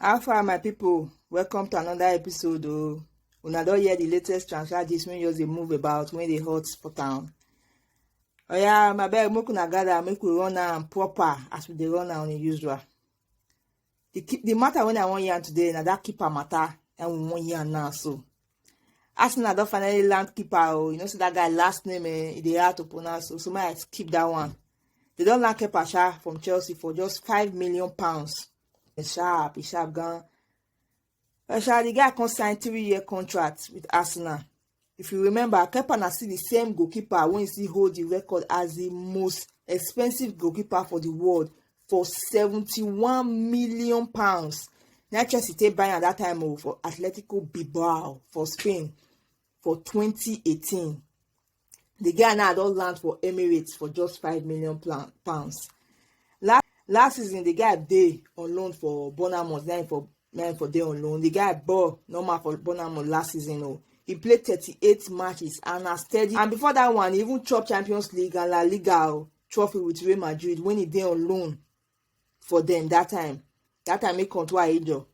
how far my people? welcome to another episode o oh. una don hear the latest transfer gist wey just dey move about wey dey hot for town oya my beg make una gather make we run am proper as we dey run am on usual the keep the matter when I want yarn today now that keeper matter and we want yarn now so. Arsenal don't finally land keeper oh you know see that guy last name eh they hard to pronounce so so my I keep that one. They don't land keeper sha from Chelsea for just five million pounds. It's sharp, it's sharp gun. Asha, the guy come sign three-year contract with Arsenal. If you remember, Kepa na still the same goalkeeper wey still hold the record as the most expensive goalkeeper for the world for seventy-one million pounds. Na Chelsea take buy am that time o oh, for Atletico Bilbao for Spain. for 2018. The guy now don land for Emirates for just five million pounds. Last, last season, the guy dey on loan for Bournemouth, then for then for dey on loan. The guy ball normal for Bournemouth last season. Oh, he played 38 matches and a steady. And before that one, he even chop Champions League and La Liga oh, trophy with Real Madrid when he dey on loan for them that time. That time he come to Ajo.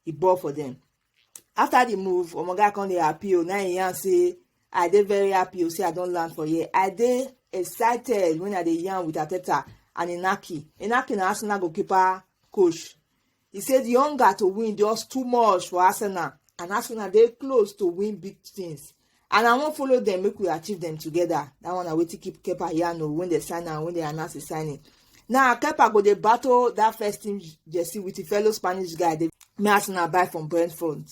e ball for dem after the move omoga come dey happy o na im yarn say i dey very happy o say i don land for here i dey excited when i dey yarn with ateta and inaki inaki na arsenal goalkeeper coach e say the hunger to win just too much for arsenal and arsenal dey close to win big things and i wan follow dem make we achieve dem together that one na wetin keep kepa yarn o when dem sign am when dem announce the signing now kepa go dey battle that first team jersey with him fellow spanish guy dey me as una buy from brentford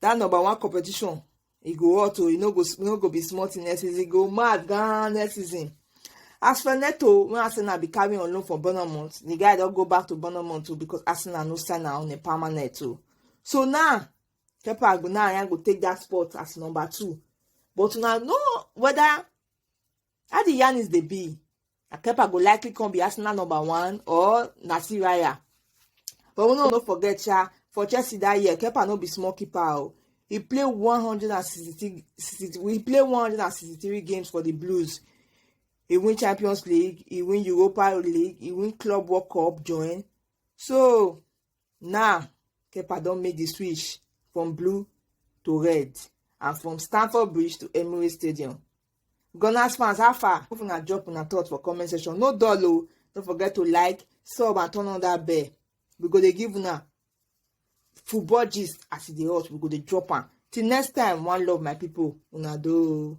that number one competition e go hot o e no go e no go be small thing next season e go mad gan next season as for neto wey arsenal be carrying on loan for bournemouth the guy don go back to bournemouth too because arsenal no sign am on a permanent too so now Kepa Agbonaranya go take that spot as number two. But una know whether how the yarn is dey be. Kepa go likely come be Arsenal number one or Nasir Raya. But we no no forget sha for Chelsea that year, Kepa no be small keeper o. Oh. He play 163 he play 163 games for the Blues. He win Champions League, he win Europa League, he win Club World Cup join. So Now, Kepa don make the switch from blue to red and from Stamford Bridge to Emirates Stadium. Gunners fans, how far? If una drop una thoughts for comment section, no dull o. Don't forget to like, sub and turn on that bell. We go dey give una football gist as e dey hot. We go dey drop am. Till next time, one love my people. Una do.